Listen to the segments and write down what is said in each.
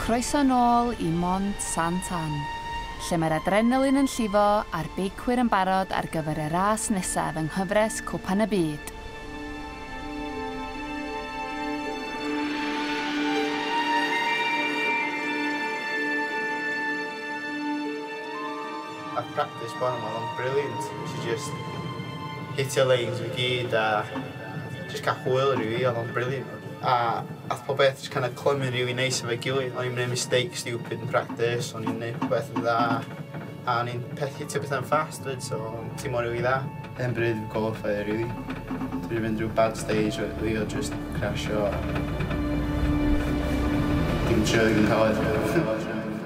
Croeso nôl i Mont Sant Ann. lle mae'r adrenalin yn llifo a'r beicwyr yn barod ar gyfer y ras nesaf yng nghyfres Cwpan y Byd. A'r practis bore 'ma o'dd o'n brilliant. Nesh i jyst hitio leins fi gyd a Jyst cael hwyl rili fi, oedd o'n brilliant. A ath pob beth jyst kind of clymu'n rili neis efo'i gilydd. O'n i'n gwneud mistake stupid yn practis, o'n i'n gwneud pob beth yn dda. A o'n i'n pethu ti beth yn ffast fyd, so o'n ti'n mor rili dda. Yn bryd yn qualifier rili. Dwi wedi mynd rhyw bad stage o fi o just crasio. Dim joio yn cael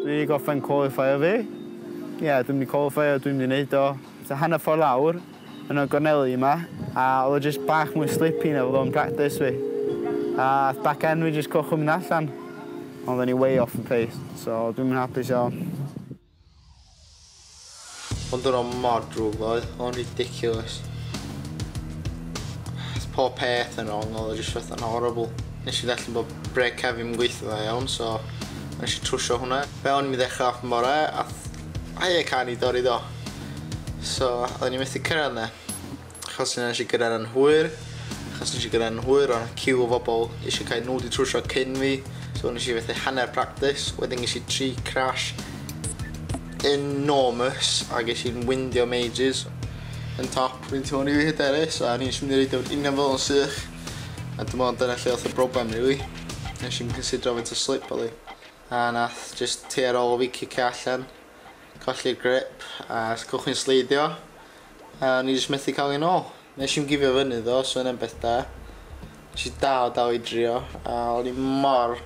Dwi wedi gorffen qualifier fi. Ie, dwi'n mynd i qualifier, dwi'n mynd i wneud o. So hanner ffordd lawr, yn y gorneli yma, a oedd o jyst bach mwy slippy na fyddo'n practis fi. A ath back end fi jyst cychwyn mynd allan. Ond o'n i way off yn pace, so dwi'n mynd hapus iawn. Ond o'n o'n mor drwg ddoe, o'n ridiculous. Pob peth yn wrong, oedd o jyst fath yn horrible. Nes i ddallen bod breg cefn yn gweithio dda iawn, so nes i trwsio hwnna. Fe o'n i'n mynd ddechrau off yn bore, a hei y can i dorri do. So, oedden ni'n methu cyrraedd yna. Achos nes i gyrraedd yn hwyr, achos nes i gyrraedd yn hwyr, o'n cyw o fobl eisiau cael nhw wedi trwsio cyn fi, so nes i fethu hanner practice, wedyn ges i tri crash enormous a ges i'n windio majors yn top fi'n teimlo'n rili hyderus a ni'n mynd i reidio fod union fel yn sych a dim ond dyna lle oedd y broblem rili nes i'n considero faint o slip oedd hi a nath just te ar ôl fi cicio allan colli'r grip a os gwych chi'n sleidio A o'n i jyst methu ca'l 'i nôl. Nesh i'm gifio fyny ddo so wnna'n beth da. Nesh i dal a dal i drio a o'n i mor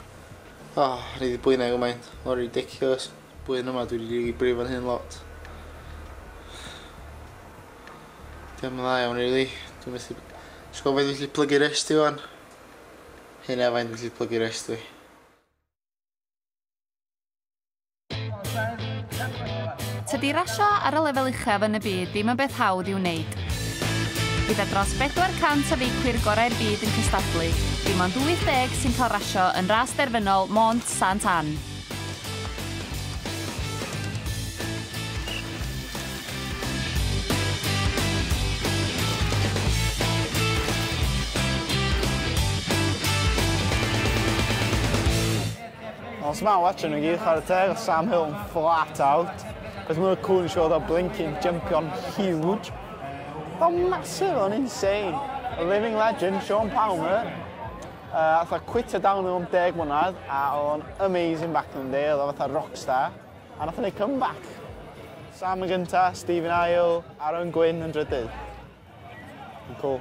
oh o'n i 'di bwyna gymaint mor ridiculous. Blwyddyn yma dwi 'di rili brifo fy hun lot. Dio'm yn dda iawn rili. Dwi methu b- jys gwel' faint dwi gallu plygu rest i ŵan. Hynna faint dwi gallu plygu rest fi. Tydi rasio ar y lefel uchaf yn y byd ddim yn beth hawdd i'w wneud. Gyda dros 400 o feicwyr gorau'r byd yn cystadlu, dim ond 80 sy'n cael rasio yn ras derfynol Mont Sant Ann. Os mae watching nhw gyd chwarae teg o Sam Hill yn flat out. Cos mae'r cwn siwr o blinking jumpio'n huge. Fel massive o'n insane. A living legend, Sean Palmer. Uh, fatha quitio down o'n deg mwynhad, a o'n amazing back in the day, oedd o fatha rockstar. A nath o'n ei comeback. Sam yn gynta, Stephen Ail, Aaron Gwyn yn drydydd. Cool.